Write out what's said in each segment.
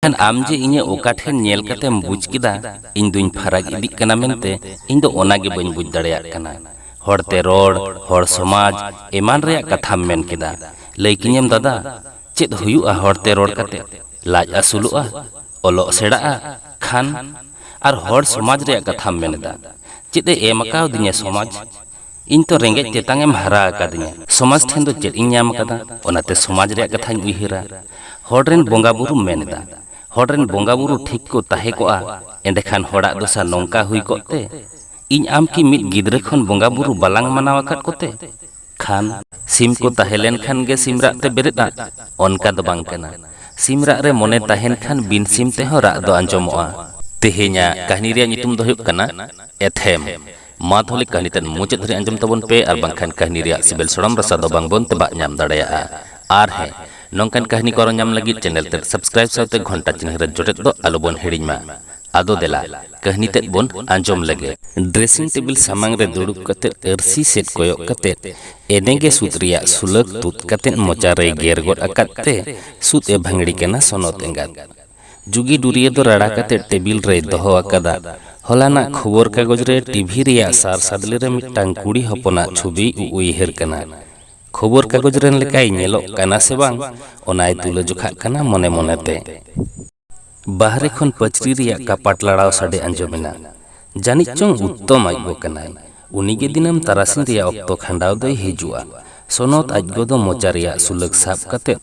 ᱠᱷᱟᱱ ᱟᱢ ᱡᱮ ᱤᱧᱟᱹᱜ ᱚᱠᱟ ᱴᱷᱮᱱ ᱧᱮᱞ ᱠᱟᱛᱮᱢ ᱵᱩᱡᱽ ᱠᱮᱫᱟ ᱤᱧ ᱫᱩᱧ ᱯᱷᱟᱨᱟᱠ ᱤᱫᱤᱜ ᱠᱟᱱᱟ ᱢᱮᱱᱛᱮ ᱤᱧ ᱫᱚ ᱚᱱᱟ ᱜᱮ ᱵᱟᱹᱧ ᱵᱩᱡᱽ ᱫᱟᱲᱮᱭᱟᱜ ᱠᱟᱱᱟ ᱦᱚᱲ ᱛᱮ ᱨᱚᱲ ᱦᱚᱲ ᱥᱚᱢᱟᱡᱽ ᱮᱢᱟᱱ ᱨᱮᱭᱟᱜ ᱠᱟᱛᱷᱟᱢ ᱢᱮᱱ ᱠᱮᱫᱟ ᱞᱟᱹᱭ ᱠᱤᱧᱟᱹᱢ ᱫᱟᱫᱟ ᱪᱮᱫ ᱦᱩᱭᱩᱜᱼᱟ ᱦᱚᱲ ᱛᱮ ᱨᱚᱲ ᱠᱟᱛᱮ ᱞᱟᱡ ᱟᱹᱥᱩᱞᱚᱜᱼᱟ ᱚᱞᱚᱜ ᱥᱮᱬᱟᱜᱼᱟ ᱠᱷᱟᱱ ᱟᱨ ᱦᱚᱲ ᱥᱚᱢᱟᱡᱽ ᱨᱮᱭᱟᱜ ᱠᱟᱛᱷᱟᱢ ᱢᱮᱱ ᱮᱫᱟ ᱪᱮᱫ ᱮ ᱮᱢ ᱟᱠᱟᱣᱫᱤᱧᱟ ᱥᱚᱢᱟᱡᱽ ᱤᱧ ᱛᱚ ᱨᱮᱸᱜᱮᱡ ᱛᱮᱛᱟᱝ ᱮᱢ ᱦᱟᱨᱟ ᱟᱠᱟᱫᱤᱧᱟ᱾ ᱥᱚᱢᱟᱡᱽ ᱴᱷᱮᱱ ᱫᱚ ᱪᱮᱫ ᱤᱧ ᱧᱟᱢ ᱟᱠᱟᱫᱟ? ᱚᱱᱟᱛᱮ ᱥᱚᱢᱟᱡᱽ ᱨᱮᱭᱟᱜ ᱠᱟᱛᱷᱟᱧ ᱩᱭᱦᱟᱹᱨᱟ᱾ ᱦᱚᱲ ᱨᱮᱱ ᱵᱚᱸᱜᱟ ᱵᱩᱨᱩᱢ ᱢᱮᱱ ᱮᱫᱟ᱾ ᱦᱚᱲ ᱨᱮᱱ ᱵᱚᱸᱜᱟ ᱵᱩᱨᱩ ᱴᱷᱤᱠ ᱠᱚ ᱛᱟᱦᱮᱸ ᱠᱚᱜᱼᱟ ᱮᱸᱰᱮᱠᱷᱟᱱ ᱦᱚᱲᱟᱜ ᱫᱚᱥᱟ ᱱᱚᱝᱠᱟ ᱦᱩᱭ ᱠᱚᱜ ᱛᱮ? ᱤᱧ ᱟᱢ ᱠᱤ ᱢᱤᱫ ᱜᱤᱫᱽᱨᱟᱹ ᱠᱷᱚᱱ ᱵᱚᱸᱜᱟ ᱵᱩᱨᱩ ᱵᱟᱞᱟᱝ ᱢᱟᱱᱟᱣ ᱟᱠᱟᱫ ᱠᱚᱛᱮ? ᱠᱷᱟᱱ᱾ ᱥᱤᱢ ᱠᱚ ᱛᱟᱦᱮᱸ ᱞᱮᱱ ᱠᱷᱟᱱ ᱜᱮ ᱥᱤᱢ ᱨᱟᱜ ᱛᱮ ᱵᱮᱨᱮᱫᱼᱟ ᱚᱱᱠᱟ ᱫᱚ ᱵᱟᱝ ᱠᱟᱱᱟ᱾ ᱥᱤᱢ ᱨᱟᱜ ᱨᱮ ᱢᱚᱱᱮ ᱛᱟᱦᱮᱸᱱ ᱠᱷᱟᱱ ᱵᱤᱱ ᱥᱤᱢ ᱛᱮᱦᱚᱸ ᱨᱟᱜ ᱫᱚ ᱟᱸᱡᱚᱢᱚᱜᱼᱟ᱾ ᱛᱮᱦᱮᱧᱟᱜ ᱠᱟᱹᱦᱱᱤ ᱨᱮᱭᱟᱜ ᱧᱩᱛᱩᱢ ᱫᱚ ᱦᱩᱭᱩᱜ ᱠᱟᱱᱟ ᱮᱛᱷᱮᱢ᱾ ᱢᱟ ᱛᱟᱦᱚᱞᱮ ᱠᱟᱹᱦᱱᱤ ᱛᱮᱫ ᱢᱩᱪᱟᱹᱫ ᱫᱷᱟᱹᱨᱤᱡ ᱟᱸᱡᱚᱢ ᱛᱟᱵᱚᱱ ᱯᱮ ᱟᱨ ᱵᱟᱝᱠᱷᱟᱱ ᱠᱟᱹᱦᱱᱤ ᱨᱮᱭᱟᱜ ᱥᱤᱵᱤᱞ ᱥᱚᱲᱚᱢ ᱨᱟᱥᱟ ᱫᱚ ᱵᱟᱝ ᱵᱚᱱ ᱛᱮᱵᱟᱜ ᱧᱟᱢ ᱫᱟᱲᱮᱭᱟᱜᱼᱟ ᱟᱨ ᱦᱮᱸ ᱱᱚᱝᱠᱟᱱ ᱠᱟᱹᱦᱱᱤ ᱠᱚ ᱟᱨᱚ ᱧᱟᱢ ᱞᱟᱹᱜᱤᱫ ᱪᱮᱱᱮᱞ ᱛᱮᱫ ᱥᱟᱵᱥᱠᱨᱟᱭᱤᱵ ᱥᱟᱶᱛᱮ ᱜᱷᱚᱱᱴᱟ ᱪᱤᱱᱦᱟᱹ ᱨᱮ ᱡᱚᱴᱮᱫ ᱫᱚ ᱟᱞᱚ ᱵᱚᱱ ᱦᱤᱲᱤᱧ ᱢᱟ ᱟᱫᱚ ᱫᱮᱞᱟ ᱠᱟᱹᱦᱱᱤ ᱛᱮᱫ ᱵᱚᱱ ᱟᱸᱡᱚᱢ ᱞᱮᱜᱮ ᱰᱨᱮᱥᱤᱝ ᱴᱮᱵᱤᱞ ᱥᱟᱢᱟᱝ ᱨᱮ ᱫᱩᱲᱩᱵ ᱠᱟᱛᱮ ᱟᱹᱨᱥᱤ ᱥᱮᱫ ᱠᱚᱭᱚᱜ ᱠᱟᱛᱮ ᱮᱱᱮ ᱜᱮ ᱥᱩᱫ ᱨᱮᱭᱟᱜ ᱥᱩᱞᱟᱹᱠ ᱛᱩᱫ ᱠᱟᱛᱮ ᱢᱚᱪᱟ ᱨᱮᱭ ᱜᱮᱨ ᱜᱚᱫ ᱟᱠᱟᱫ ᱛᱮ ᱥᱩᱫ ᱮ ᱵᱷᱟᱹᱝᱲᱤ ᱠᱟᱱᱟ ᱥᱚᱱᱚᱛ ᱮᱸᱜᱟᱛ᱾ ᱡᱩᱜᱤ ᱰᱩᱨᱤᱭᱟᱹ ᱫᱚ ᱨᱟᱲᱟ ᱠᱟᱛᱮ ᱴᱮᱵᱤᱞ ᱨᱮᱭ ᱫᱚᱦᱚ ᱟᱠᱟᱫᱟ᱾ ᱦᱚᱞᱟᱱᱟᱜ ᱠᱷᱚᱵᱚᱨ ᱠᱟᱜᱚᱡᱽ ᱨᱮ ᱴᱤᱵᱷᱤ ᱨᱮᱭᱟᱜ ᱥᱟᱨ ᱥᱟᱫᱽᱞᱮ ᱨᱮ ᱢᱤᱫᱴᱟᱝ ᱠᱩᱲᱤ ᱦᱚᱯᱚᱱᱟᱜ ᱪᱷᱩᱵᱤᱭ ᱩᱩᱭᱦᱟᱹᱨ ᱠᱟᱱᱟ᱾ ᱠᱷᱚᱵᱚᱨ ᱠᱟᱜᱚᱡᱽ ᱨᱮᱱ ᱞᱮᱠᱟᱭ ᱧᱮᱞᱚᱜ ᱠᱟᱱᱟ ᱥᱮ ᱵᱟᱝ ᱚᱱᱟᱭ ᱛᱩᱞᱟᱹᱡᱚᱠᱷᱟᱜ ᱠᱟᱱᱟ ᱢᱚᱱᱮ ᱢᱚᱱᱮ ᱛᱮ᱾ ᱵᱟᱦᱨᱮ ᱠᱷᱚᱱ ᱯᱟᱹᱪᱨᱤ ᱨᱮᱭᱟᱜ ᱠᱟᱯᱟᱴ ᱞᱟᱲᱟᱣ ᱥᱟᱰᱮ ᱟᱸᱡᱚᱢ ᱮᱱᱟ᱾ ᱡᱟᱹᱱᱤᱡ ᱪᱚᱝ ᱩᱛᱛᱚᱢ ᱟᱡᱜᱚ ᱠᱟᱱᱟᱭ᱾ ᱩᱱᱤ ᱜᱮ ᱫᱤᱱᱟᱹᱢ ᱛᱟᱨᱟᱥᱤᱧ ᱨᱮᱭᱟᱜ ᱚᱠᱛᱚ ᱠᱷᱟᱸᱰᱟᱣ ᱫᱚᱭ ᱦᱤᱡᱩᱜᱼᱟ᱾ ᱥᱚᱱᱚᱛ ᱟᱡ ᱜᱚ ᱫᱚ ᱢᱚᱪᱟ ᱨᱮᱭᱟᱜ ᱥᱩᱞᱟᱹᱠ ᱥᱟᱵ ᱠᱟᱛᱮ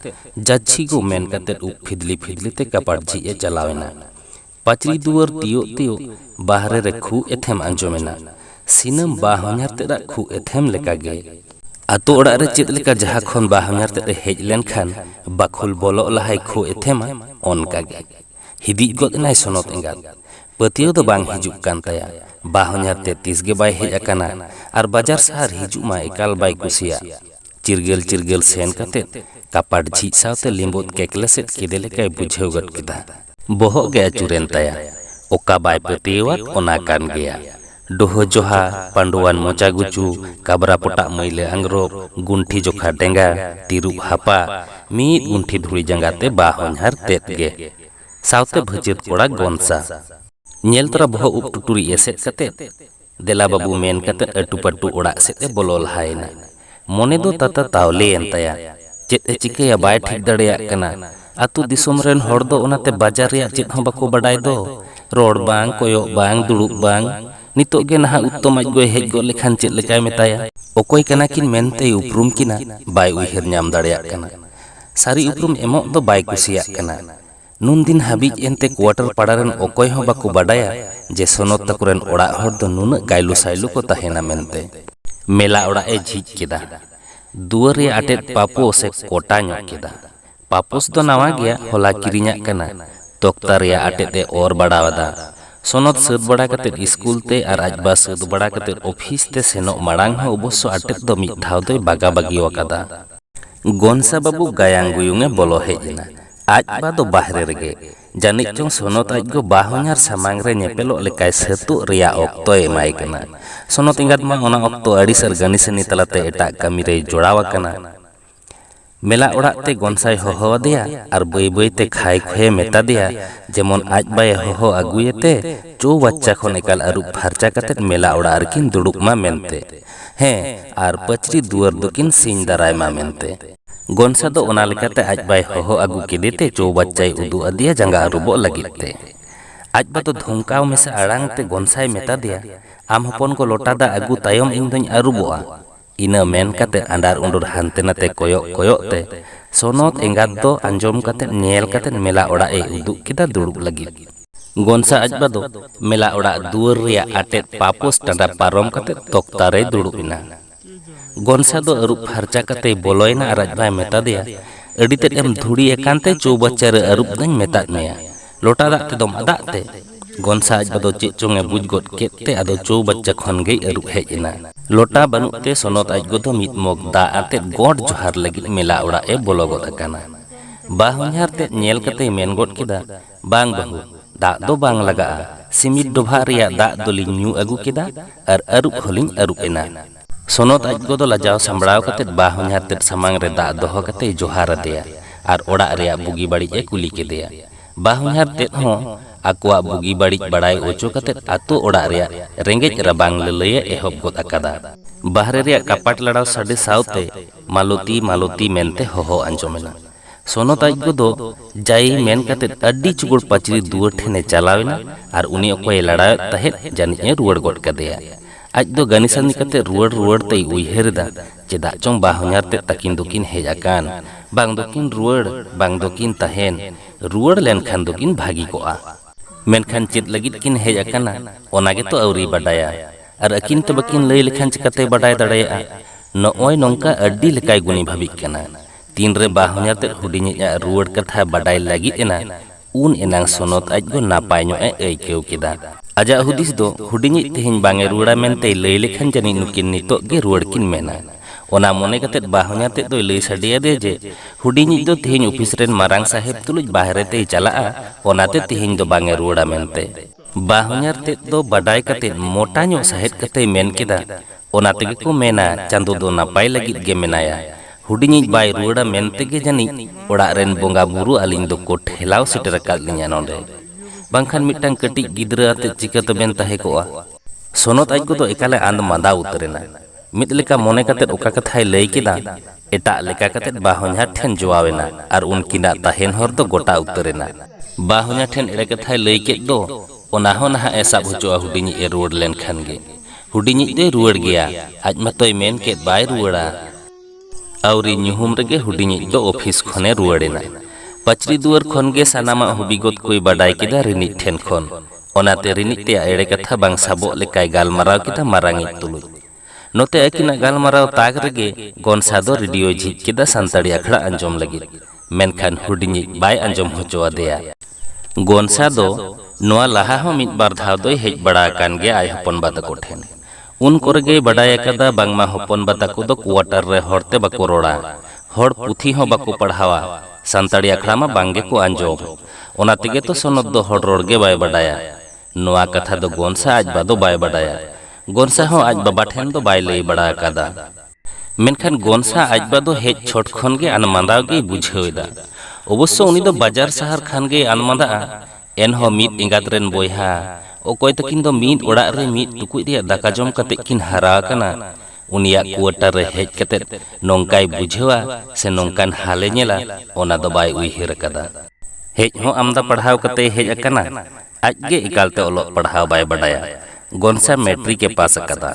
ᱡᱟᱪᱪᱷᱤ ᱜᱳ ᱢᱮᱱ ᱠᱟᱛᱮ ᱩᱵ ᱯᱷᱤᱫᱽᱞᱤ ᱯᱷᱤᱫᱽᱞᱤ ᱛᱮ ᱠᱟᱯᱟᱴ ᱡᱷᱤᱡ ᱮ ᱪᱟᱞᱟᱣ ᱮᱱᱟ᱾ ᱯᱟᱹᱪᱨᱤ ᱫᱩᱣᱟᱹᱨ ᱛᱤᱭᱳᱜ ᱛᱤᱭᱳᱜ ᱵᱟᱦᱨᱮ ᱨᱮ ᱠᱷᱩᱜ ᱮᱛᱷᱮᱢ ᱟᱸᱡᱚᱢ ᱮᱱᱟ᱾ ᱥᱤᱱᱟᱹᱢ ᱵᱟ ᱦᱚᱧᱦᱟᱨ ᱛᱮᱫ ᱟᱜ ᱠᱷᱩᱜ ᱮᱛᱷᱮᱢ ᱞᱮᱠᱟ ᱜᱮ᱾ ᱟᱹᱛᱩ ᱚᱲᱟᱜ ᱨᱮ ᱪᱮᱫ ᱞᱮᱠᱟ ᱡᱟᱦᱟᱸ ᱠᱷᱚᱱ ᱵᱟ ᱦᱚᱧᱦᱟᱨ ᱛᱮᱫ ᱮ ᱦᱮᱡ ᱞᱮᱱ ᱠᱷᱟᱱ ᱵᱟᱹᱠᱷᱩᱞ ᱵᱚᱞᱚᱜ ᱞᱟᱦᱟᱭ ᱠᱷᱩᱜ ᱮᱛᱷᱮᱢᱟ ᱚᱱᱠᱟ ᱜᱮ᱾ ᱦᱤᱫᱤᱡ ᱜᱚᱫ ᱮᱱᱟᱭ ᱥᱚᱱᱚᱛ ᱮᱸᱜᱟᱛ᱾ ᱯᱟᱹᱛᱭᱟᱹᱣ ᱫᱚ ᱵᱟᱝ ᱦᱤᱡᱩᱜ ᱠᱟᱱ ᱛᱟᱭᱟ᱾ ᱵᱟ ᱦᱚᱧᱦᱟᱨ ᱛᱮᱫ ᱛᱤᱥ ᱜᱮ ᱵᱟᱭ ᱦᱮᱡ ᱟᱠᱟᱱᱟ ᱟᱨ ᱵᱟᱡᱟᱨ ᱥᱟᱦᱟᱨ ᱦᱤᱡᱩᱜ ᱢᱟ ᱮᱠᱟᱞ ᱵᱟᱭ ᱠᱩᱥᱤᱭᱟᱜ᱾ ᱪᱤᱨᱜᱟᱹᱞ ᱪᱤᱨᱜᱟᱹᱞ ᱥᱮᱱ ᱠᱟᱛᱮ ᱠᱟᱯᱟᱴ ᱡᱷᱤᱡ ᱥᱟᱶᱛᱮ ᱞᱤᱸᱵᱚᱫ ᱠᱮᱠᱞᱮ ᱥᱮᱫ ᱠᱮᱫᱮ ᱞᱮᱠᱟᱭ ᱵᱩᱡᱷᱟᱹᱣ ᱜᱚᱫ ᱠᱮᱫᱟ᱾ ᱵᱚᱦᱚᱜ ᱜᱮ ᱟᱹᱪᱩᱨᱮᱱ ᱛᱟᱭᱟ᱾ ᱚᱠᱟ ᱵᱟᱭ ᱯᱟᱹᱛᱭᱟᱹᱣᱟᱫ ᱚᱱᱟ ᱠᱟᱱ ᱜᱮᱭᱟ᱾ ᱰᱚᱦᱚ ᱡᱚᱦᱟ, ᱯᱟᱹᱰᱩᱣᱟᱱ ᱢᱚᱪᱟ ᱜᱩᱪᱩ, ᱠᱟᱵᱽᱨᱟ ᱯᱚᱴᱟᱜ ᱢᱟᱹᱭᱞᱟᱹ ᱟᱝᱨᱚᱵᱽ, ᱜᱩᱱᱴᱷᱤ ᱡᱚᱠᱷᱟ ᱰᱮᱸᱜᱟ, ᱛᱤᱨᱩᱵᱽ ᱦᱟᱯᱟᱜ, ᱢᱤᱫ ᱜᱩᱱᱴᱷᱤ ᱫᱷᱩᱲᱤ ᱡᱟᱸᱜᱟ ᱛᱮ ᱵᱟ ᱦᱚᱧᱦᱟᱨ ᱛᱮᱫ ᱜᱮ᱾ ᱥᱟᱶᱛᱮ ᱵᱷᱟᱹᱪᱟᱹᱛ ᱠᱚᱲᱟ ᱜᱚᱱᱥᱟ᱾ ᱧᱮᱞ ᱛᱚᱨᱟ ᱵᱚᱦᱚᱜ ᱩᱵ ᱴᱩᱴᱩᱨᱤᱡ ᱮᱥᱮᱫ ᱠᱟᱛᱮ ᱫᱮᱞᱟ ᱵᱟᱹᱵᱩ ᱢᱮᱱ ᱠᱟᱛᱮ ᱟᱹᱴᱩ ᱯᱟᱹᱴᱩ ᱚᱲᱟᱜ ᱥᱮᱫ ᱮ ᱵᱚᱞᱚ ᱞᱟᱦᱟᱭᱮᱱᱟ᱾ ᱢᱚᱱᱮ ᱫᱚ ᱛᱟᱛᱟ ᱛᱟᱣᱞᱮ ᱮᱱ ᱛᱟᱭᱟ᱾ ᱪᱮᱫ ᱮ ᱪᱤᱠᱟᱹᱭᱟ ᱵᱟᱭ ᱴᱷᱤᱠ ᱫᱟᱲᱮᱭᱟᱜ ᱠᱟᱱᱟ᱾ ᱟᱹᱛᱩ ᱫᱤᱥᱚᱢ ᱨᱮᱱ ᱦᱚᱲ ᱫᱚ ᱚᱱᱟᱛᱮ ᱵᱟᱡᱟᱨ ᱨᱮᱭᱟᱜ ᱪᱮᱫ ᱦᱚᱸ ᱵᱟᱠᱚ ᱵᱟᱰᱟᱭ ᱫᱚ᱾ ᱨᱚᱲ ᱵᱟᱝ, ᱠᱚᱭᱚᱜ ᱵᱟᱝ, ᱫᱩᱲᱩᱵ ᱵᱟᱝ᱾ ᱱᱤᱛᱚᱜ ᱜᱮ ᱱᱟᱦᱟᱜ ᱩᱛᱛᱚᱢ ᱟᱡ ᱜᱚᱭ ᱦᱮᱡ ᱜᱚᱫ ᱞᱮᱠᱷᱟᱱ ᱪᱮᱫ ᱞᱮᱠᱟᱭ ᱢᱮᱛᱟᱭᱟ᱾ ᱚᱠᱚᱭ ᱠᱟᱱᱟ ᱠᱤᱱ ᱢᱮᱱ ᱛᱮᱭ ᱩᱯᱨᱩᱢ ᱠᱤᱱᱟ ᱵᱟᱭ ᱩᱭᱦᱟᱹᱨ ᱧᱟᱢ ᱫᱟᱲᱮᱭᱟᱜ ᱠᱟᱱᱟ᱾ ᱥᱟᱹᱨᱤ ᱩᱯᱨᱩᱢ ᱮᱢᱚᱜ ᱫᱚ ᱵᱟᱭ ᱠᱩᱥᱤᱭᱟᱜ ᱠᱟᱱᱟ᱾ ᱱᱩᱱ ᱫᱤᱱ ᱦᱟᱹᱵᱤᱡ ᱮᱱᱛᱮ ᱠᱣᱟᱴᱚᱨ ᱯᱟᱲᱟ ᱨᱮᱱ ᱚᱠᱚᱭ ᱦᱚᱸ ᱵᱟᱠᱚ ᱵᱟᱰᱟᱭᱟ ᱡᱮ ᱥᱚᱱᱚᱛ ᱛᱟᱠᱚ ᱨᱮᱱ ᱚᱲᱟᱜ ᱦᱚᱲ ᱫᱚ ᱱᱩᱱᱟᱹᱜ ᱜᱟᱭᱞᱩ ᱥᱟᱭᱞᱩ ᱠᱚ ᱛᱟᱦᱮᱸᱱᱟ ᱢᱮᱱᱛᱮ᱾ ᱢᱮᱞᱟ ᱚᱲᱟᱜ ᱮ ᱡᱷᱤᱡ ᱠᱮᱫᱟ᱾ ᱫᱩᱣᱟᱹᱨ ᱨᱮ ᱟᱴᱮᱫ ᱯᱟᱯᱳᱥ ᱮ ᱠᱚᱴᱟ ᱧᱚᱜ ᱠᱮᱫᱟ᱾ ᱯᱟᱯᱳᱥ ᱫᱚ ᱱᱟᱣᱟ ᱜᱮᱭᱟ, ᱦᱚᱞᱟ ᱠᱤᱨᱤᱧᱟᱜ ᱠᱟᱱᱟ᱾ ᱛᱚᱠᱛᱟ ᱨᱮᱭᱟᱜ ᱟᱴᱮᱫ ᱮ ᱚᱨ ᱵᱟᱲᱟ ᱟᱫᱟ᱾ ᱥᱚᱱᱚᱛ ᱥᱟᱹᱛ ᱵᱟᱲᱟ ᱠᱟᱛᱮ ᱤᱥᱠᱩᱞ ᱛᱮ ᱟᱨ ᱟᱡ ᱵᱟ ᱥᱟᱹᱛ ᱵᱟᱲᱟ ᱠᱟᱛᱮ ᱚᱯᱷᱤᱥ ᱛᱮ ᱥᱮᱱᱚᱜ ᱢᱟᱬᱟᱝ ᱦᱚᱸ ᱚᱵᱚᱥᱥᱚ ᱟᱴᱮᱫ ᱫᱚ ᱢᱤᱫ ᱫᱷᱟᱣ ᱫᱚᱭ ᱵᱟᱜᱟ ᱵᱟᱜᱤᱣᱟᱠᱟᱫᱟ᱾ ᱜᱚᱱᱥᱟ ᱵᱟᱹᱵᱩ ᱜᱟᱭᱟᱝ ᱜᱩᱭᱩᱝ ᱮ ᱵᱚᱞᱚ ᱦᱮᱡ ᱮᱱᱟ᱾ ᱟᱡ ᱵᱟ ᱫᱚ ᱵᱟᱦᱨᱮ ᱨᱮᱜᱮ᱾ ᱡᱟᱹᱱᱤᱡ ᱪᱚᱝ ᱥᱚᱱᱚᱛ ᱟᱡ ᱜᱚ ᱵᱟ ᱦᱚᱧᱦᱟᱨ ᱥᱟᱢᱟᱝ ᱨᱮ ᱧᱮᱯᱮᱞᱚᱜ ᱞᱮᱠᱟᱭ ᱥᱟᱹᱛᱚᱜ ᱨᱮᱭᱟᱜ ᱚᱠᱛᱚᱭ ᱮᱢᱟᱭ ᱠᱟᱱᱟ᱾ ᱥᱚᱱᱚᱛ ᱮᱸᱜᱟᱛ ᱢᱟ ᱚᱱᱟ ᱚᱠᱛᱚ ᱟᱹᱲᱤᱥ ᱟᱨ ᱜᱟᱹᱱᱤᱥᱟᱹᱱᱤ ᱛᱟᱞᱟᱛᱮ ᱮᱴᱟᱜ ᱠᱟᱹᱢᱤ ᱨᱮᱭ ᱡᱚᱲᱟᱣ ᱟᱠᱟᱱᱟ᱾ ᱢᱮᱞᱟ ᱚᱲᱟᱜ ᱛᱮ ᱜᱚᱱᱥᱟᱭ ᱦᱚᱦᱚ ᱟᱫᱮᱭᱟ ᱟᱨ ᱵᱟᱹᱭ ᱵᱟᱹᱭ ᱛᱮ ᱠᱷᱟᱭ ᱠᱷᱚᱭᱮ ᱢᱮᱛᱟ ᱫᱮᱭᱟ ᱡᱮᱢᱚᱱ ᱟᱡ ᱵᱟ ᱮ ᱦᱚᱦᱚ ᱟᱹᱜᱩᱭᱮ ᱛᱮ ᱪᱳᱣᱵᱟᱪᱪᱟ ᱠᱷᱚᱱ ᱮᱠᱟᱞ ᱟᱹᱨᱩᱵ ᱯᱷᱟᱨᱪᱟ ᱠᱟᱛᱮ ᱢᱮᱞᱟ ᱚᱲᱟᱜ ᱨᱮᱠᱤᱱ ᱫᱩᱲᱩᱵ ᱢᱟ ᱢᱮᱱᱛᱮ᱾ ᱦᱮᱸ ᱟᱨ ᱯᱟᱹᱪᱨᱤ ᱫᱩᱣᱟᱹᱨ ᱫᱚᱠᱤᱱ ᱥᱤᱧ ᱫᱟᱨᱟᱭ ᱢᱟ ᱢᱮᱱᱛᱮ᱾ ᱜᱚᱱᱥᱟ ᱫᱚ ᱚᱱᱟ ᱞᱮᱠᱟᱛᱮ ᱟᱡ ᱵᱟᱭ ᱦᱚᱦᱚ ᱟᱹᱜᱩ ᱠᱮᱫᱮ ᱛᱮ ᱪᱳᱣᱵᱟᱪᱪᱟᱭ ᱩᱫᱩᱜ ᱟᱫᱮᱭᱟ ᱡᱟᱸᱜᱟ ᱟᱹᱨᱩᱵᱚᱜ ᱞᱟᱹᱜᱤᱫ ᱛᱮ᱾ ᱟᱡ ᱵᱟ ᱫᱚ ᱫᱷᱚᱢᱠᱟᱣ ᱢᱮᱥᱟ ᱟᱲᱟᱝ ᱛᱮ ᱜᱚᱱᱥᱟᱭ ᱢᱮᱛᱟ ᱫᱮᱭᱟ, ᱟᱢ ᱦᱚᱯᱚᱱ ᱜᱚ ᱞᱚᱴᱟ ᱫᱟᱜ ᱟᱹᱜᱩ ᱛᱟᱭᱚᱢ ᱤᱧ ᱫᱚᱧ ᱟᱹᱨᱩᱵᱚᱜᱼᱟ᱾ ᱤᱱᱟᱹ ᱢᱮᱱ ᱠᱟᱛᱮ ᱟᱸᱰᱟᱨ ᱩᱸᱰᱩᱨ ᱦᱟᱱᱛᱮ ᱱᱟᱛᱮ ᱠᱚᱭᱚᱜ ᱠᱚᱭᱚᱜ ᱛᱮ ᱥᱚᱱᱚᱛ ᱮᱸᱜᱟᱛ ᱫᱚ ᱟᱸᱡᱚᱢ ᱠᱟᱛᱮ ᱧᱮᱞ ᱠᱟᱛᱮ ᱢᱮᱞᱟ ᱚᱲᱟᱜ ᱮ ᱩᱫᱩᱜ ᱠᱮᱫᱟ ᱫᱩᱲᱩᱵ ᱞᱟᱹᱜᱤᱫ᱾ ᱜᱚᱱᱥᱟ ᱟᱡ ᱵᱟ ᱫᱚ ᱢᱮᱞᱟ ᱚᱲᱟᱜ ᱫᱩᱣᱟᱹᱨ ᱨᱮᱭᱟᱜ ᱟᱴᱮᱫ ᱯᱟᱯᱚᱥ ᱴᱟᱸᱰᱟ ᱯᱟᱨᱚᱢ ᱠᱟᱛᱮ ᱛᱚᱠᱛᱟ ᱨᱮᱭ ᱫᱩᱲᱩᱵ ᱮᱱᱟ᱾ ᱜᱚᱱᱥᱟ ᱫᱚ ᱟᱹᱨᱩᱵ ᱯᱷᱟᱨᱪᱟ ᱠᱟᱛᱮᱭ ᱵᱚᱞᱚᱭᱮᱱᱟ ᱟᱨ ᱟᱡ ᱵᱟᱭ ᱢᱮᱛᱟ ᱫᱮᱭᱟ ᱟᱹᱰᱤ ᱛᱮᱫ ᱮᱢ ᱫᱷᱩᱲᱤ ᱟᱠᱟᱱ ᱛᱮ ᱪᱳᱣᱵᱟᱪᱪᱟ ᱨᱮ ᱟᱹᱨᱩᱵ ᱫᱟᱹᱧ ᱢᱮᱛᱟᱫ ᱢᱮᱭᱟ ᱞᱚᱴᱟ ᱫᱟᱜ ᱛᱮᱫᱚᱢ ᱟᱫᱟᱜ ᱛᱮ ᱜᱚᱱᱥᱟ ᱟᱡ ᱵᱟᱫᱚ ᱪᱮᱫ ᱪᱚᱝ ᱮ ᱵᱩᱡᱽ ᱜᱚᱫ ᱠᱮᱫ ᱛᱮ ᱟᱫᱚ ᱪᱳᱣᱵᱟᱪᱪᱟ ᱠᱷᱚᱱ ᱜᱮᱭ ᱟᱹᱨᱩᱵ ᱦᱮᱡ ᱮᱱᱟ᱾ ᱞᱚᱴᱟ ᱵᱟᱹᱱᱩᱜ ᱛᱮ ᱥᱚᱱᱚᱛ ᱟᱡ ᱜᱚ ᱫᱚ ᱢᱤᱫ ᱢᱚᱜᱽ ᱫᱟᱜ ᱟᱛᱮ ᱜᱚᱰ ᱡᱚᱦᱟᱨ ᱞᱟᱹᱜᱤᱫ ᱢᱮᱞᱟ ᱚᱲᱟᱜ ᱮ ᱵᱚᱞᱚ ᱜᱚᱫ ᱟᱠᱟᱱᱟ᱾ ᱵᱟ ᱦᱚᱧᱦᱟᱨ ᱛᱮᱫ ᱧᱮᱞ ᱠᱟᱛᱮᱭ ᱢᱮᱱ ᱜᱚᱫ ᱠᱮᱫᱟ, ᱵᱟᱝ ᱵᱟᱹᱦᱩ, ᱫᱟᱜ ᱫᱚ ᱵᱟᱝ ᱞᱟᱜᱟᱜᱼᱟ᱾ ᱥᱤᱢᱤᱴ ᱰᱚᱵᱷᱟᱜ ᱨᱮᱭᱟᱜ ᱫᱟᱜ ᱫᱚᱞᱤᱧ ᱧᱩ ᱟᱹᱜᱩ ᱠᱮᱫᱟ ᱟᱨ ᱟᱹᱨᱩᱵ ᱦᱚᱸᱞᱤᱧ ᱟᱹᱨᱩᱵ ᱮᱱᱟ᱾ ᱥᱚᱱᱚᱛ ᱟᱡ ᱜᱚ ᱫᱚ ᱞᱟᱡᱟᱣ ᱥᱟᱢᱵᱽᱲᱟᱣ ᱠᱟᱛᱮ ᱵᱟᱼᱦᱚᱧᱦᱟᱨ ᱛᱮᱫ ᱥᱟᱢᱟᱝ ᱨᱮ ᱫᱟᱜ ᱫᱚᱦᱚ ᱠᱟᱛᱮᱭ ᱡᱚᱦᱟᱨ ᱟᱫᱮᱭᱟ ᱟᱨ ᱚᱲᱟᱜ ᱨᱮᱭᱟᱜ ᱵᱩᱜᱤ ᱵᱟᱹᱲᱤᱡ ᱮ ᱠᱩᱞᱤ ᱠᱮᱫᱮᱭᱟ᱾ ᱵᱟᱼᱦᱚᱧᱦᱟᱨ ᱛᱮᱫ ᱦᱚᱸ ᱟᱠᱚᱣᱟᱜ ᱵᱩᱜᱤ ᱵᱟᱹᱲᱤᱡ ᱵᱟᱲᱟᱭ ᱚᱪᱚ ᱠᱟᱛᱮ ᱟᱹᱛᱩ ᱚᱲᱟᱜ ᱨᱮᱭᱟᱜ ᱨᱮᱸᱜᱮᱡ ᱨᱟᱵᱟᱝ ᱞᱟᱹᱞᱟᱹᱭ ᱮ ᱮᱦᱚᱵ ᱜᱚᱫ ᱟᱠᱟᱫᱟ᱾ ᱵᱟᱦᱨᱮ ᱨᱮᱭᱟᱜ ᱠᱟᱯᱟᱴ ᱞᱟᱲᱟᱣ ᱥᱟᱰᱮ ᱥᱟᱶᱛᱮ ᱢᱟᱞᱚᱛᱤ, ᱢᱟᱞᱚᱛᱤ ᱢᱮᱱᱛᱮ ᱦᱚᱦᱚ ᱟᱸᱡᱚᱢ ᱮᱱᱟ᱾ ᱥᱚᱱᱚᱛ ᱟᱡ ᱜᱚ ᱫᱚ ᱡᱟᱭ ᱢᱮᱱ ᱠᱟᱛᱮ ᱟᱹᱰᱤ ᱪᱩᱜᱚᱲ ᱯᱟᱹᱪᱨᱤ ᱫᱩᱣᱟᱹᱨ ᱴᱷᱮᱱ ᱮ ᱪᱟᱞᱟᱣ ᱮᱱᱟ ᱟᱨ ᱩᱱᱤ ᱚᱠᱚᱭᱮ ᱞᱟᱲᱟᱣᱮᱫ ᱛᱟᱦᱮᱸᱫ ᱡᱟᱹᱱᱤᱡ ᱮ ᱨᱩᱣᱟᱹᱲ ᱜᱚᱫ ᱠᱟᱫᱮᱭᱟ᱾ ᱟᱡ ᱫᱚ ᱜᱟᱹᱱᱤᱥᱟᱹᱱᱤ ᱠᱟᱛᱮ ᱨᱩᱣᱟᱹᱲ ᱨᱩᱣᱟᱹᱲ ᱛᱮᱭ ᱩᱭᱦᱟᱹᱨ ᱮᱫᱟ ᱪᱮᱫᱟᱜ ᱪᱚᱝ ᱵᱟ ᱦᱚᱧᱦᱟᱨ ᱛᱮᱫ ᱛᱟᱹᱠᱤᱱ ᱫᱚᱠᱤᱱ ᱦᱮᱡ ᱟᱠᱟᱱ, ᱵᱟᱝ ᱫᱚᱠᱤᱱ ᱨᱩᱣᱟᱹᱲ, ᱵᱟᱝ ᱫᱚᱠᱤᱱ ᱛᱟᱦᱮᱸᱱ᱾ ᱨᱩᱣᱟᱹᱲ ᱞᱮᱱ ᱠᱷᱟᱱ ᱫᱚᱠᱤᱱ ᱵᱷᱟᱹᱜᱤ ᱠᱚᱜᱼᱟ᱾ ᱢᱮᱱᱠᱷᱟᱱ ᱪᱮᱫ ᱞᱟᱹᱜᱤᱫ ᱠᱤᱱ ᱦᱮᱡ ᱟᱠᱟᱱᱟ ᱚᱱᱟ ᱜᱮᱛᱚ ᱟᱹᱣᱨᱤᱭ ᱵᱟᱰᱟᱭᱟ᱾ ᱟᱨ ᱟᱹᱠᱤᱱ ᱛᱮ ᱵᱟᱹᱠᱤᱱ ᱞᱟᱹᱭ ᱞᱮᱠᱷᱟᱱ ᱪᱮᱠᱟᱛᱮᱭ ᱵᱟᱰᱟᱭ ᱫᱟᱲᱮᱭᱟᱜᱼᱟ᱾ ᱱᱚᱜᱼᱚᱭ ᱱᱚᱝᱠᱟ ᱟᱹᱰᱤ ᱞᱮᱠᱟᱭ ᱜᱩᱱᱤ ᱵᱷᱟᱹᱵᱤᱜ ᱠᱟᱱᱟ᱾ ᱛᱤᱱ ᱨᱮ ᱵᱟᱦᱚᱧᱟᱨ ᱛᱮᱫ ᱦᱩᱰᱤᱧᱤᱡ ᱟᱜ ᱨᱩᱣᱟᱹᱲ ᱠᱟᱛᱷᱟᱭ ᱵᱟᱰᱟᱭ ᱞᱟᱹᱜᱤᱫ ᱮᱱᱟ ᱩᱱ ᱮᱱᱟᱝ ᱥᱚᱱᱚᱛ ᱟᱡ ᱜᱚ ᱱᱟᱯᱟᱭ ᱧᱚᱜ ᱮ ᱟᱹᱭᱠᱟᱹᱣ ᱠᱮᱫᱟ᱾ ᱟᱡᱟᱜ ᱦᱩᱫᱤᱥ ᱫᱚ ᱦᱩᱰᱤᱧᱤᱡ ᱛᱮᱦᱮᱧ ᱵᱟᱝ ᱮ ᱨᱩᱣᱟᱹᱲᱟ ᱢᱮᱱᱛᱮᱭ ᱞᱟᱹᱭ ᱞᱮᱠᱷᱟᱱ ᱡᱟᱹᱱᱤᱡ ᱱᱩᱠᱤᱱ ᱱᱤᱛᱚᱜ ᱜᱮ ᱨᱩᱣᱟᱹᱲ ᱠᱤᱱ ᱢᱮᱱᱟ᱾ ᱚᱱᱟ ᱢᱚᱱᱮ ᱠᱟᱛᱮ ᱵᱟᱦᱚᱧᱟᱨ ᱛᱮᱫ ᱫᱚᱭ ᱞᱟᱹᱭ ᱥᱟᱰᱮ ᱟᱫᱮᱭᱟ ᱡᱮ ᱦᱩᱰᱤᱧᱤᱡ ᱫᱚ ᱛᱮᱦᱮᱧ ᱚᱯᱷᱤᱥ ᱨᱮᱱ ᱢᱟᱨᱟᱝ ᱥᱟᱦᱮᱵᱽ ᱛᱩᱞᱩᱡ ᱵᱟᱦᱨᱮ ᱛᱮᱭ ᱪᱟᱞᱟᱜᱼᱟ ᱚᱱᱟᱛᱮ ᱛᱮᱦᱮᱧ ᱫᱚ ᱵᱟᱝ ᱮ ᱨᱩᱣᱟᱹᱲᱟ ᱢᱮᱱᱛᱮ᱾ ᱵᱟᱦᱚᱧᱟᱨ ᱛᱮᱫ ᱫᱚ ᱵᱟᱰᱟᱭ ᱠᱟᱛᱮ ᱢᱚᱴᱟ ᱧᱚᱜ ᱥᱟᱦᱮᱫ ᱠᱟᱛᱮᱭ ᱢᱮᱱ ᱠᱮᱫᱟ, ᱚᱱᱟ ᱛᱮᱜᱮ ᱠᱚ ᱢᱮᱱᱟ ᱪᱟᱸᱫᱚ ᱫᱚ ᱱᱟᱯᱟᱭ ᱞᱟᱹᱜᱤᱫ ᱜᱮ ᱢᱮᱱᱟᱭᱟ᱾ ᱦᱩᱰᱤᱧᱤᱡ ᱵᱟᱭ ᱨᱩᱣᱟᱹᱲᱟ ᱢᱮᱱ ᱛᱮᱜᱮ ᱡᱟᱹᱱᱤᱡ ᱚᱲᱟᱜ ᱨᱮᱱ ᱵᱚᱸᱜᱟ ᱵᱩᱨᱩ ᱟᱹᱞᱤᱧ ᱫᱚᱠᱚ ᱴᱷᱮᱞᱟᱣ ᱥᱮᱴᱮᱨ ᱟᱠᱟᱫ ᱞᱤᱧᱟ ᱱᱚᱸᱰᱮ᱾ ᱵᱟᱝᱠᱷᱟᱱ ᱢᱤᱫᱴᱟᱹᱝ ᱠᱟᱹᱴᱤᱡ ᱜᱤᱫᱽᱨᱟᱹ ᱟᱛᱮ ᱪᱤᱠᱟᱹ ᱛᱮᱵᱮᱱ ᱛᱟᱦᱮᱸ ᱠᱚᱜᱼᱟ? ᱥᱚᱱᱚᱛ ᱟᱡ ᱜᱚ ᱫᱚ ᱮᱠᱟᱞ ᱮ ᱟᱸᱫᱽ ᱢᱟᱸᱫᱟ ᱩᱛᱟᱹᱨ ᱮᱱᱟ᱾ ᱢᱤᱫ ᱞᱮᱠᱟ ᱢᱚᱱᱮ ᱠᱟᱛᱮ ᱚᱠᱟ ᱠᱟᱛᱷᱟᱭ ᱞᱟᱹᱭ ᱠᱮᱫᱟ ᱮᱴᱟᱜ ᱞᱮᱠᱟ ᱠᱟᱛᱮ ᱵᱟᱦᱚᱧᱦᱟᱨ ᱴᱷᱮᱱ ᱡᱚᱣᱟᱣ ᱮᱱᱟ ᱟᱨ ᱩᱱᱠᱤᱱᱟᱜ ᱛᱟᱦᱮᱸᱱ ᱦᱚᱨ ᱫᱚ ᱜᱚᱴᱟ ᱩᱛᱟᱹᱨ ᱮᱱᱟ᱾ ᱵᱟᱦᱚᱧᱟ ᱴᱷᱮᱱ ᱮᱲᱮ ᱠᱟᱛᱷᱟᱭ ᱞᱟᱹᱭ ᱠᱮᱫ ᱫᱚ ᱚᱱᱟ ᱦᱚᱸ ᱱᱟᱦᱟᱜ ᱮ ᱥᱟᱵ ᱦᱚᱪᱚᱜᱼᱟ ᱦᱩᱰᱤᱧᱤᱡ ᱮ ᱨᱩᱣᱟᱹᱲ ᱞᱮᱱ ᱠᱷᱟᱱ ᱜᱮ᱾ ᱦᱩᱰᱤᱧᱤᱡ ᱫᱚᱭ ᱨᱩᱣᱟᱹᱲ ᱜᱮᱭᱟ, ᱟᱡ ᱢᱟᱛᱚᱭ ᱢᱮᱱ ᱠᱮᱫ ᱵᱟᱭ ᱨᱩᱣᱟᱹᱲᱟ᱾ ᱟᱹᱣᱨᱤ ᱧᱩᱦᱩᱢ ᱨᱮᱜᱮ ᱦᱩᱰᱤᱧᱤᱡ ᱫᱚ ᱚᱯᱷᱤᱥ ᱠᱷᱚᱱ ᱮ ᱨᱩᱣᱟᱹᱲ ᱮᱱᱟ᱾ ᱯᱟᱹᱪᱨᱤ ᱫᱩᱣᱟᱹᱨ ᱠᱷᱚᱱ ᱜᱮ ᱥᱟᱱᱟᱢᱟᱜ ᱦᱩᱵᱤᱜᱚᱛ ᱠᱚᱭ ᱵᱟᱰᱟᱭ ᱠᱮᱫᱟ ᱨᱤᱱᱤᱡ ᱴᱷᱮᱱ ᱠᱷᱚᱱ᱾ ᱚᱱᱟᱛᱮ ᱨᱤᱱᱤᱡ ᱛᱮᱭᱟᱜ ᱮᱲᱮ ᱠᱟᱛᱷᱟ ᱵᱟᱝ ᱥᱟᱵᱚᱜ ᱞᱮᱠᱟᱭ ᱜᱟᱞᱢᱟᱨᱟᱣ ᱠᱮᱫᱟ ᱢᱟᱨᱟᱝᱤᱡ ᱛᱩᱞᱩᱡ᱾ ᱱᱚᱛᱮ ᱟᱹᱠᱤᱱᱟᱜ ᱜᱟᱞᱢᱟᱨᱟᱣ ᱛᱟᱠ ᱨᱮᱜᱮ ᱜᱚᱱᱥᱟ ᱫᱚ ᱨᱮᱰᱤᱭᱳᱭ ᱡᱷᱤᱡ ᱠᱮᱫᱟ ᱥᱟᱱᱛᱟᱲᱤ ᱟᱠᱷᱲᱟ ᱟᱸᱡᱚᱢ ᱞᱟᱹᱜᱤᱫ᱾ ᱢᱮᱱᱠᱷᱟᱱ ᱦᱩᱰᱤᱧᱤᱡ ᱵᱟᱭ ᱟᱸᱡᱚᱢ ᱦᱚᱪᱚ ᱟᱫᱮᱭᱟ᱾ ᱜᱚᱱᱥᱟ ᱫᱚ ᱱᱚᱣᱟ ᱞᱟᱦᱟ ᱦᱚᱸ ᱢᱤᱫ ᱵᱟᱨ ᱫᱷᱟᱣ ᱫᱚᱭ ᱦᱮᱡ ᱵᱟᱲᱟ ᱟᱠᱟᱱ ᱜᱮᱭᱟ ᱟᱡ ᱦᱚᱯᱚᱱ ᱵᱟ ᱛᱟᱠᱚ ᱴᱷᱮᱱ᱾ ᱩᱱ ᱠᱚᱨᱮ ᱜᱮᱭ ᱵᱟᱰᱟᱭ ᱟᱠᱟᱫᱟ ᱵᱟᱝᱢᱟ ᱦᱚᱯᱚᱱ ᱵᱟ ᱛᱟᱠᱚ ᱫᱚ ᱠᱩᱣᱟᱴᱟᱨ ᱨᱮ ᱦᱚᱲ ᱛᱮ ᱵᱟᱠᱚ ᱨᱚᱲᱟ, ᱦᱚᱲ ᱯᱩᱛᱷᱤ ᱦᱚᱸ ᱵᱟᱠᱚ ᱯᱟᱲᱦᱟᱣᱟ, ᱥᱟᱱᱛᱟᱲᱤ ᱟᱠᱷᱲᱟ ᱢᱟ ᱵᱟᱝ ᱜᱮᱠᱚ ᱟᱸᱡᱚᱢ᱾ ᱚᱱᱟ ᱛᱮᱜᱮ ᱛᱚ ᱥᱚᱱᱚᱛ ᱫᱚ ᱦᱚᱲ ᱨᱚᱲ ᱜᱮ ᱵᱟᱭ ᱵᱟᱰᱟᱭᱟ᱾ ᱱᱚᱣᱟ ᱠᱟᱛᱷᱟ ᱫᱚ ᱜᱚᱱᱥᱟ ᱟᱡ ᱵᱟ ᱫᱚ ᱵᱟᱭ ᱵᱟᱰᱟᱭᱟ᱾ ᱜᱚᱱᱥᱟ ᱦᱚᱸ ᱟᱡ ᱵᱟᱵᱟ ᱴᱷᱮᱱ ᱫᱚ ᱵᱟᱭ ᱞᱟᱹᱭ ᱵᱟᱲᱟ ᱟᱠᱟᱫᱟ᱾ ᱢᱮᱱᱠᱷᱟᱱ ᱜᱚᱱᱥᱟ ᱟᱡ ᱵᱟ ᱫᱚ ᱦᱮᱡ ᱪᱷᱚᱴ ᱠᱷᱚᱱ ᱜᱮ ᱟᱱᱢᱟᱸᱫᱟᱣ ᱜᱮᱭ ᱵᱩᱡᱷᱟᱹᱣ ᱮᱫᱟ᱾ ᱚᱵᱚᱥᱥᱚ ᱩᱱᱤ ᱫᱚ ᱵᱟᱡᱟᱨ ᱥᱟᱦᱟᱨ ᱠᱷᱟᱱ ᱜᱮᱭ ᱟᱱᱢᱟᱸᱫᱟᱜᱼᱟ᱾ ᱮᱱᱦᱚᱸ ᱢᱤᱫ ᱮᱸᱜᱟᱛ ᱨᱮᱱ ᱵᱚᱭᱦᱟ ᱚᱠᱚᱭ ᱛᱟᱹᱠᱤᱱ ᱫᱚ ᱢᱤᱫ ᱚᱲᱟᱜ ᱨᱮ ᱢᱤᱫ ᱴᱩᱠᱩᱡ ᱨᱮᱭᱟᱜ ᱫᱟᱠᱟ ᱡᱚᱢ ᱠᱟᱛᱮ ᱠᱤᱱ ᱦᱟᱨᱟ ᱟᱠᱟᱱᱟ᱾ ᱩᱱᱤᱭᱟᱜ ᱠᱩᱣᱟᱴᱟᱨ ᱨᱮ ᱦᱮᱡ ᱠᱟᱛᱮ ᱱᱚᱝᱠᱟᱭ ᱵᱩᱡᱷᱟᱹᱣᱟ ᱥᱮ ᱱᱚᱝᱠᱟᱱ ᱦᱟᱞ ᱮ ᱧᱮᱞᱟ ᱚᱱᱟ ᱫᱚ ᱵᱟᱭ ᱩᱭᱦᱟᱹᱨ ᱟᱠᱟᱫᱟ᱾ ᱦᱮᱡ ᱦᱚᱸ ᱟᱢᱫᱟ ᱯᱟᱲᱦᱟᱣ ᱠᱟᱛᱮᱭ ᱦᱮᱡ ᱟᱠᱟᱱᱟ᱾ ᱟᱡ ᱜᱮ ᱮᱠᱟᱞ ᱛᱮ ᱚᱞᱚᱜ ᱯᱟᱲᱦᱟᱣ ᱵᱟᱭ ᱵᱟᱰᱟᱭᱟ᱾ ᱜᱚᱱᱥᱟ ᱢᱮᱴᱨᱤᱠ ᱮ ᱯᱟᱥ ᱟᱠᱟᱫᱟ᱾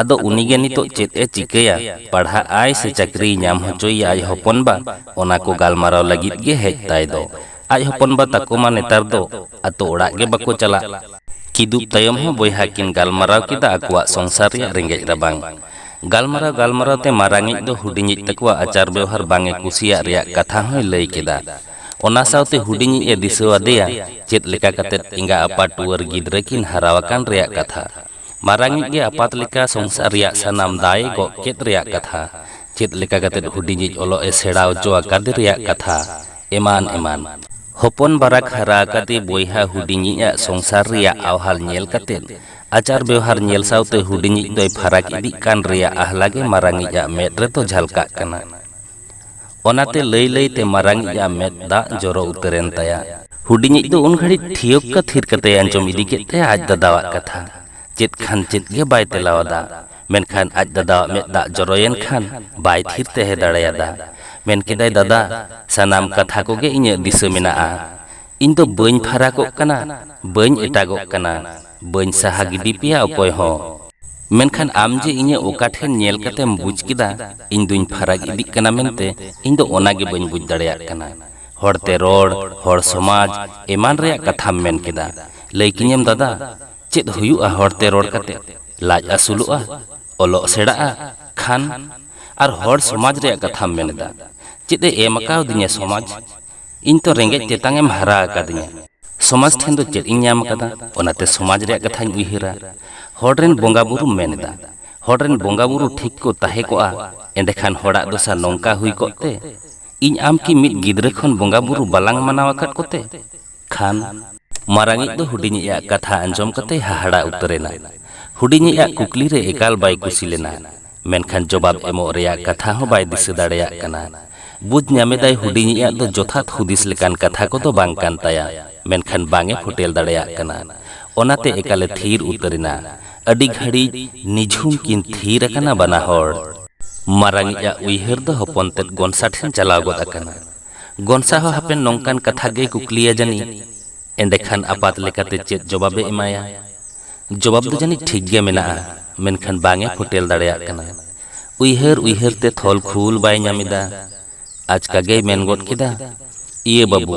ᱟᱫᱚ ᱩᱱᱤ ᱜᱮ ᱱᱤᱛᱚᱜ ᱪᱮᱫ ᱮ ᱪᱤᱠᱟᱹᱭᱟ, ᱯᱟᱲᱦᱟᱜ ᱟᱭ ᱥᱮ ᱪᱟᱹᱠᱨᱤᱭ ᱧᱟᱢ ᱦᱚᱪᱚᱭᱮᱭᱟ ᱟᱡ ᱦᱚᱯᱚᱱ ᱵᱟ, ᱚᱱᱟ ᱠᱚ ᱜᱟᱞᱢᱟᱨᱟᱣ ᱞᱟᱹᱜᱤᱫ ᱜᱮ ᱦᱮᱡ ᱛᱟᱭ ᱫᱚ᱾ ᱟᱡ ᱦᱚᱯᱚᱱ ᱵᱟ ᱛᱟᱠᱚ ᱢᱟ ᱱᱮᱛᱟᱨ ᱫᱚ ᱟᱹᱛᱩ ᱚᱲᱟᱜ ᱜᱮ ᱵᱟᱠᱚ ᱪᱟᱞᱟᱜ᱾ ᱠᱤᱫᱩᱵ ᱛᱟᱭᱚᱢ ᱦᱚᱸ ᱵᱚᱭᱦᱟ ᱠᱤᱱ ᱜᱟᱞᱢᱟᱨᱟᱣ ᱠᱮᱫᱟ ᱟᱠᱚᱣᱟᱜ ᱥᱚᱝᱥᱟᱨ ᱨᱮᱭᱟᱜ ᱨᱮᱸᱜᱮᱡ ᱨᱟᱵᱟᱝ᱾ ᱜᱟᱞᱢᱟᱨᱟᱣ ᱜᱟᱞᱢᱟᱨᱟᱣ ᱛᱮ ᱢᱟᱨᱟᱝᱤᱡ ᱫᱚ ᱦᱩᱰᱤᱧᱤᱡ ᱛᱟᱠᱚᱣᱟᱜ ᱟᱪᱟᱨ ᱵᱮᱣᱦᱟᱨ ᱵᱟᱝ ᱮ ᱠᱩᱥᱤᱭᱟᱜ ᱨᱮᱭᱟᱜ ᱠᱟᱛᱷᱟ ᱦᱚᱸᱭ ᱞᱟᱹᱭ ᱠᱮᱫᱟ᱾ ᱚᱱᱟ ᱥᱟᱶᱛᱮ ᱦᱩᱰᱤᱧᱤᱡ ᱮ ᱫᱤᱥᱟᱹ ᱟᱫᱮᱭᱟ ᱪᱮᱫ ᱞᱮᱠᱟ ᱠᱟᱛᱮ ᱮᱸᱜᱟ ᱟᱯᱟ ᱴᱩᱣᱟᱹᱨ ᱜᱤᱫᱽᱨᱟᱹ ᱠᱤᱱ ᱦᱟᱨᱟ ᱟᱠᱟᱱ ᱨᱮᱭᱟᱜ ᱠᱟᱛᱷᱟ᱾ ᱢᱟᱨᱟᱝᱤᱡ ᱜᱮ ᱟᱯᱟᱛ ᱞᱮᱠᱟ ᱥᱚᱝᱥᱟᱨ ᱨᱮᱭᱟᱜ ᱥᱟᱱᱟᱢ ᱫᱟᱭ ᱮ ᱜᱚᱜ ᱠᱮᱫ ᱨᱮᱭᱟᱜ ᱠᱟᱛᱷᱟ᱾ ᱪᱮᱫ ᱞᱮᱠᱟ ᱠᱟᱛᱮ ᱦᱩᱰᱤᱧᱤᱡ ᱚᱞᱚᱜ ᱮ ᱥᱮᱬᱟ ᱚᱪᱚ ᱟᱠᱟᱫᱮ ᱨᱮᱭᱟᱜ ᱠᱟᱛᱷᱟ ᱮᱢᱟᱱ ᱮᱢᱟᱱ᱾ ᱦᱚᱯᱚᱱ ᱵᱟᱨᱟᱠ ᱦᱟᱨᱟ ᱟᱠᱟᱫᱮ ᱵᱚᱭᱦᱟ ᱦᱩᱰᱤᱧᱤᱡ ᱟᱜ ᱥᱚᱝᱥᱟᱨ ᱨᱮᱭᱟᱜ ᱟᱣᱦᱟᱞ ᱧᱮᱞ ᱠᱟᱛᱮ, ᱟᱪᱟᱨ ᱵᱮᱣᱦᱟᱨ ᱧᱮᱞ ᱥᱟᱶᱛᱮ ᱦᱩᱰᱤᱧᱤᱡ ᱫᱚᱭ ᱯᱷᱟᱨᱟᱠ ᱤᱫᱤᱜ ᱠᱟᱱ ᱨᱮᱭᱟᱜ ᱟᱦᱞᱟ ᱜᱮ ᱢᱟᱨᱟᱝᱤᱡ ᱟᱜ ᱢᱮᱫ ᱨᱮᱫᱚ ᱡᱷᱟᱞᱠᱟᱜ ᱠᱟᱱᱟ᱾ ᱚᱱᱟᱛᱮ ᱞᱟᱹᱭ ᱞᱟᱹᱭ ᱛᱮ ᱢᱟᱨᱟᱝᱤᱡ ᱟᱜ ᱢᱮᱫ ᱫᱟᱜ ᱡᱚᱨᱚ ᱩᱛᱟᱹᱨ ᱮᱱ ᱛᱟᱭᱟ᱾ ᱦᱩᱰᱤᱧᱤᱡ ᱫᱚ ᱩᱱ ᱜᱷᱟᱹᱲᱤᱡ ᱴᱷᱤᱭᱚᱠᱠᱟ ᱛᱷᱤᱨ ᱠᱟᱛᱮᱭ ᱟᱸᱡᱚᱢ ᱤᱫᱤ ᱠᱮᱫ ᱛᱟᱭᱟ ᱟᱡ ᱫᱟᱫᱟᱣᱟᱜ ᱠᱟᱛᱷᱟ᱾ ᱪᱮᱫ ᱠᱷᱟᱱ ᱪᱮᱫ ᱜᱮ ᱵᱟᱭ ᱛᱮᱞᱟ ᱟᱫᱟ᱾ ᱢᱮᱱᱠᱷᱟᱱ ᱟᱡ ᱫᱟᱫᱟᱣᱟᱜ ᱢᱮᱫ ᱫᱟᱜ ᱡᱚᱨᱚ ᱮᱱ ᱠᱷᱟᱱ ᱵᱟᱭ ᱛᱷᱤᱨ ᱛᱮᱦᱮ ᱫᱟᱲᱮ ᱟᱫᱟ᱾ ᱢᱮᱱ ᱠᱮᱫᱟᱭ ᱫᱟᱫᱟ, ᱥᱟᱱᱟᱢ ᱠᱟᱛᱷᱟ ᱠᱚᱜᱮ ᱤᱧᱟᱹᱜ ᱫᱤᱥᱟᱹ ᱢᱮᱱᱟᱜᱼᱟ᱾ ᱤᱧ ᱫᱚ ᱵᱟᱹᱧ ᱯᱷᱟᱨᱟᱠᱚᱜ ᱠᱟᱱᱟ, ᱵᱟᱹᱧ ᱮᱴᱟᱜᱚᱜ ᱠᱟᱱᱟ᱾ ᱵᱟᱹᱧ ᱥᱟᱦᱟ ᱜᱤᱰᱤ ᱯᱮᱭᱟ ᱚᱠᱚᱭ ᱦᱚᱸ᱾ ᱢᱮᱱᱠᱷᱟᱱ ᱟᱢ ᱡᱮ ᱤᱧᱟᱹᱜ ᱚᱠᱟ ᱴᱷᱮᱱ ᱧᱮᱞ ᱠᱟᱛᱮᱢ ᱵᱩᱡᱽ ᱠᱮᱫᱟ ᱤᱧ ᱫᱩᱧ ᱯᱷᱟᱨᱟᱠ ᱤᱫᱤᱜ ᱠᱟᱱᱟ ᱢᱮᱱᱛᱮ ᱤᱧ ᱫᱚ ᱚᱱᱟ ᱜᱮ ᱵᱟᱹᱧ ᱵᱩᱡᱽ ᱫᱟᱲᱮᱭᱟᱜ ᱠᱟᱱᱟ᱾ ᱦᱚᱲ ᱛᱮ ᱨᱚᱲ, ᱦᱚᱲ ᱥᱚᱢᱟᱡᱽ ᱮᱢᱟᱱ ᱨᱮᱭᱟᱜ ᱠᱟᱛᱷᱟᱢ ᱢᱮᱱ ᱠᱮᱫᱟ᱾ ᱞᱟᱹᱭ ᱠᱤᱧᱟᱹᱢ ᱫᱟᱫᱟ, ᱪᱮᱫ ᱦᱩᱭᱩᱜᱼᱟ ᱦᱚᱲ ᱛᱮ ᱨᱚᱲ ᱠᱟᱛᱮ? ᱞᱟᱡ ᱟᱹᱥᱩᱞᱚᱜᱼᱟ? ᱚᱞᱚᱜ ᱥᱮᱬᱟᱜᱼᱟ? ᱠᱷᱟᱱ? ᱟᱨ ᱦᱚᱲ ᱥᱚᱢᱟᱡᱽ ᱨᱮᱭᱟᱜ ᱠᱟᱛᱷᱟᱢ ᱢᱮᱱ ᱮᱫᱟ᱾ ᱪᱮᱫ ᱮ ᱮᱢ ᱟᱠᱟᱣᱫᱤᱧᱟ ᱥᱚᱢᱟᱡᱽ? ᱤᱧ ᱛᱚ ᱨᱮᱸᱜᱮᱡ ᱛᱮᱛᱟᱝ ᱮᱢ ᱦᱟᱨᱟ ᱟᱠᱟᱫᱤᱧᱟ᱾ ᱥᱚᱢᱟᱡᱽ ᱴᱷᱮᱱ ᱫᱚ ᱪᱮᱫ ᱤᱧ ᱧᱟᱢ ᱟᱠᱟᱫᱟ? ᱚᱱᱟᱛᱮ ᱥᱚᱢᱟᱡᱽ ᱨᱮᱭᱟᱜ ᱠᱟᱛᱷᱟᱧ ᱩᱭᱦᱟᱹᱨᱟ᱾ ᱦᱚᱲ ᱨᱮᱱ ᱵᱚᱸᱜᱟ ᱵᱩᱨᱩᱢ ᱢᱮᱱ ᱮᱫᱟ᱾ ᱦᱚᱲ ᱨᱮᱱ ᱵᱚᱸᱜᱟ ᱵᱩᱨᱩ ᱴᱷᱤᱠ ᱠᱚ ᱛᱟᱦᱮᱸ ᱠᱚᱜᱼᱟ ᱮᱸᱰᱮᱠᱷᱟᱱ ᱦᱚᱲᱟᱜ ᱫᱚᱥᱟ ᱱᱚᱝᱠᱟ ᱦᱩᱭ ᱠᱚᱜ ᱛᱮ? ᱤᱧ ᱟᱢ ᱠᱤ ᱢᱤᱫ ᱜᱤᱫᱽᱨᱟᱹ ᱠᱷᱚᱱ ᱵᱚᱸᱜᱟ ᱵᱩᱨᱩ ᱵᱟᱞᱟᱝ ᱢᱟᱱᱟᱣ ᱟᱠᱟᱫ ᱠᱚᱛᱮ? ᱠᱷᱟᱱ᱾ ᱢᱟᱨᱟᱝᱤᱡ ᱫᱚ ᱦᱩᱰᱤᱧᱤᱡ ᱟᱜ ᱠᱟᱛᱷᱟ ᱟᱸᱡᱚᱢ ᱠᱟᱛᱮᱭ ᱦᱟᱦᱟᱲᱟ ᱩᱛᱟᱹᱨ ᱮᱱᱟ᱾ ᱦᱩᱰᱤᱧᱤᱡ ᱟᱜ ᱠᱩᱠᱞᱤ ᱨᱮ ᱮᱠᱟᱞ ᱵᱟᱭ ᱠᱩᱥᱤ ᱞᱮᱱᱟ᱾ ᱢᱮᱱᱠᱷᱟᱱ ᱡᱚᱵᱟᱵᱽ ᱮᱢᱚᱜ ᱨᱮᱭᱟᱜ ᱠᱟᱛᱷᱟ ᱦᱚᱸ ᱵᱟᱭ ᱫᱤᱥᱟᱹ ᱫᱟᱲᱮᱭᱟᱜ ᱠᱟᱱᱟ᱾ ᱵᱩᱡᱽ ᱧᱟᱢᱮᱫᱟᱭ ᱦᱩᱰᱤᱧᱤᱡ ᱟᱜ ᱫᱚ ᱡᱚᱛᱷᱟᱛ ᱦᱩᱫᱤᱥ ᱞᱮᱠᱟᱱ ᱠᱟᱛᱷᱟ ᱠᱚᱫᱚ ᱵᱟᱝ ᱠᱟᱱ ᱛᱟᱭᱟ, ᱢᱮᱱᱠᱷᱟᱱ ᱵᱟᱝ ᱮ ᱯᱷᱳᱴᱮᱞ ᱫᱟᱲᱮᱭᱟᱜ ᱠᱟᱱᱟ᱾ ᱚᱱᱟᱛᱮ ᱮᱠᱟᱞ ᱮ ᱛᱷᱤᱨ ᱩᱛᱟᱹᱨ ᱮᱱᱟ᱾ ᱟᱹᱰᱤ ᱜᱷᱟᱹᱲᱤᱡ ᱱᱤᱡᱷᱩᱢ ᱠᱤᱱ ᱛᱷᱤᱨ ᱟᱠᱟᱱᱟ ᱵᱟᱱᱟ ᱦᱚᱲ᱾ ᱢᱟᱨᱟᱝᱤᱡ ᱟᱜ ᱩᱭᱦᱟᱹᱨ ᱫᱚ ᱦᱚᱯᱚᱱ ᱛᱮᱫ ᱜᱚᱱᱥᱟ ᱴᱷᱮᱱ ᱪᱟᱞᱟᱣ ᱜᱚᱫ ᱟᱠᱟᱱᱟ᱾ ᱜᱚᱱᱥᱟ ᱦᱚᱸ ᱦᱟᱯᱮᱱ ᱱᱚᱝᱠᱟᱱ ᱠᱟᱛᱷᱟ ᱜᱮᱭ ᱠᱩᱠᱞᱤᱭᱟ ᱡᱟᱹᱱᱤᱡ᱾ ᱮᱸᱰᱮᱠᱷᱟᱱ ᱟᱯᱟᱛ ᱞᱮᱠᱟᱛᱮ ᱪᱮᱫ ᱡᱚᱵᱟᱵᱽ ᱮ ᱮᱢᱟᱭᱟ? ᱡᱚᱵᱟᱵᱽ ᱫᱚ ᱡᱟᱹᱱᱤᱡ ᱴᱷᱤᱠ ᱜᱮ ᱢᱮᱱᱟᱜᱼᱟ, ᱢᱮᱱᱠᱷᱟᱱ ᱵᱟᱝ ᱮ ᱯᱷᱳᱴᱮᱞ ᱫᱟᱲᱮᱭᱟᱜ ᱠᱟᱱᱟ᱾ ᱩᱭᱦᱟᱹᱨ ᱩᱭᱦᱟᱹᱨ ᱛᱮ ᱛᱷᱚᱞ ᱠᱷᱩᱞ ᱵᱟᱭ ᱧᱟᱢ ᱮᱫᱟ᱾ ᱟᱪᱠᱟ ᱜᱮᱭ ᱢᱮᱱ ᱜᱚᱫ ᱠᱮᱫᱟ, ᱤᱭᱟᱹ ᱵᱟᱹᱵᱩ,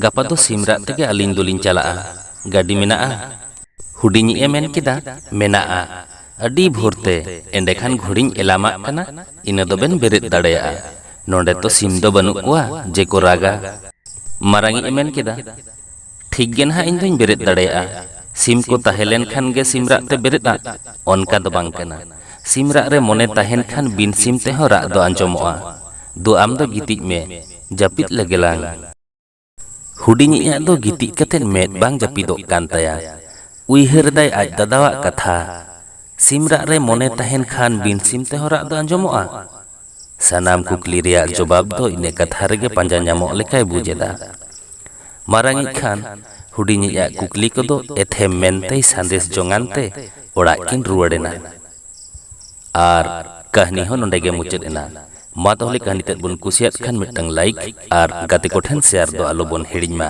ᱜᱟᱯᱟ ᱫᱚ ᱥᱤᱢ ᱨᱟᱜ ᱛᱮᱜᱮ ᱟᱹᱞᱤᱧ ᱫᱚᱞᱤᱧ ᱪᱟᱞᱟᱜᱼᱟ᱾ ᱜᱟᱹᱰᱤ ᱢᱮᱱᱟᱜᱼᱟ? ᱦᱩᱰᱤᱧᱤᱡ ᱮ ᱢᱮᱱ ᱠᱮᱫᱟ, ᱢᱮᱱᱟᱜᱼᱟ᱾ ᱟᱹᱰᱤ ᱵᱷᱳᱨ ᱛᱮ, ᱮᱸᱰᱮᱠᱷᱟᱱ ᱜᱷᱚᱲᱤᱧ ᱮᱞᱟᱢᱟᱜ ᱠᱟᱱᱟ, ᱤᱱᱟᱹ ᱫᱚᱵᱮᱱ ᱵᱮᱨᱮᱫ ᱫᱟᱲᱮᱭᱟᱜᱼᱟ᱾ ᱱᱚᱸᱰᱮ ᱛᱚ ᱥᱤᱢ ᱫᱚ ᱵᱟᱹᱱᱩᱜ ᱠᱚᱣᱟ ᱡᱮ ᱠᱚ ᱨᱟᱜᱟ᱾ ᱢᱟᱨᱟᱝᱤᱡ ᱮ ᱢᱮᱱ ᱠᱮᱫᱟ᱾ ᱴᱷᱤᱠ ᱜᱮ ᱱᱟᱦᱟᱜ ᱤᱧ ᱫᱚᱧ ᱵᱮᱨᱮᱫ ᱫᱟᱲᱮᱭᱟᱜᱼᱟ᱾ ᱥᱤᱢ ᱠᱚ ᱛᱟᱦᱮᱸ ᱞᱮᱱ ᱠᱷᱟᱱ ᱜᱮ ᱥᱤᱢ ᱨᱟᱜ ᱛᱮ ᱵᱮᱨᱮᱫᱼᱟ? ᱚᱱᱠᱟ ᱫᱚ ᱵᱟᱝ ᱠᱟᱱᱟ᱾ ᱥᱤᱢ ᱨᱟᱜ ᱨᱮ ᱢᱚᱱᱮ ᱛᱟᱦᱮᱸᱱ ᱠᱷᱟᱱ ᱵᱤᱱ ᱥᱤᱢ ᱛᱮᱦᱚᱸ ᱨᱟᱜ ᱫᱚ ᱟᱸᱡᱚᱢᱚᱜᱼᱟ᱾ ᱫᱩ ᱟᱢ ᱫᱚ ᱜᱤᱛᱤᱡ ᱢᱮ, ᱡᱟᱹᱯᱤᱫ ᱞᱮᱜᱮ ᱞᱟᱝ᱾ ᱦᱩᱰᱤᱧᱤᱡ ᱟᱜ ᱫᱚ ᱜᱤᱛᱤᱡ ᱠᱟᱛᱮ ᱢᱮᱫ ᱵᱟᱝ ᱡᱟᱹᱯᱤᱫᱚᱜ ᱠᱟᱱ ᱛᱟᱭᱟ᱾ ᱩᱭᱦᱟᱹᱨ ᱮᱫᱟᱭ ᱟᱡ ᱫᱟᱫᱟᱣᱟᱜ ᱠᱟᱛᱷᱟ᱾ ᱥᱤᱢ ᱨᱟᱜ ᱨᱮ ᱢᱚᱱᱮ ᱛᱟᱦᱮᱸᱱ ᱠᱷᱟᱱ ᱵᱤᱱ ᱥᱤᱢ ᱛᱮᱦᱚᱸ ᱨᱟᱜ ᱫᱚ ᱟᱸᱡᱚᱢᱚᱜᱼᱟ᱾ ᱥᱟᱱᱟᱢ ᱠᱩᱠᱞᱤ ᱨᱮᱭᱟᱜ ᱡᱚᱵᱟᱵᱽ ᱫᱚ ᱤᱱᱟᱹ ᱠᱟᱛᱷᱟ ᱨᱮᱜᱮ ᱯᱟᱸᱡᱟ ᱧᱟᱢᱚᱜ ᱞᱮᱠᱟᱭ ᱵᱩᱡᱽ ᱮᱫᱟ᱾ ᱢᱟᱨᱟᱝᱤᱡ ᱠᱷᱟᱱ ᱦᱩᱰᱤᱧᱤᱡ ᱟᱜ ᱠᱩᱠᱞᱤ ᱠᱚᱫᱚ ᱮᱛᱷᱮᱢ ᱢᱮᱱᱛᱮᱭ ᱥᱟᱸᱫᱮᱥ ᱡᱚᱝᱟᱱ ᱛᱮ ᱚᱲᱟᱜ ᱠᱤᱱ ᱨᱩᱣᱟᱹᱲ ᱮᱱᱟ᱾ ᱟᱨ ᱠᱟᱹᱦᱱᱤ ᱦᱚᱸ ᱱᱚᱸᱰᱮ ᱜᱮ ᱢᱩᱪᱟᱹᱫ ᱮᱱᱟ᱾ ᱢᱟ ᱛᱟᱦᱚᱞᱮ ᱠᱟᱹᱦᱱᱤ ᱛᱮᱫ ᱵᱚᱱ ᱠᱩᱥᱤᱭᱟᱫ ᱠᱷᱟᱱ ᱢᱤᱫᱴᱟᱹᱝ ᱞᱟᱭᱤᱠ ᱟᱨ ᱜᱟᱛᱮ ᱠᱚ ᱴᱷᱮᱱ ᱥᱮᱭᱟᱨ ᱫᱚ ᱟᱞᱚ ᱵᱚᱱ ᱦᱤᱲᱤᱧ ᱢᱟ᱾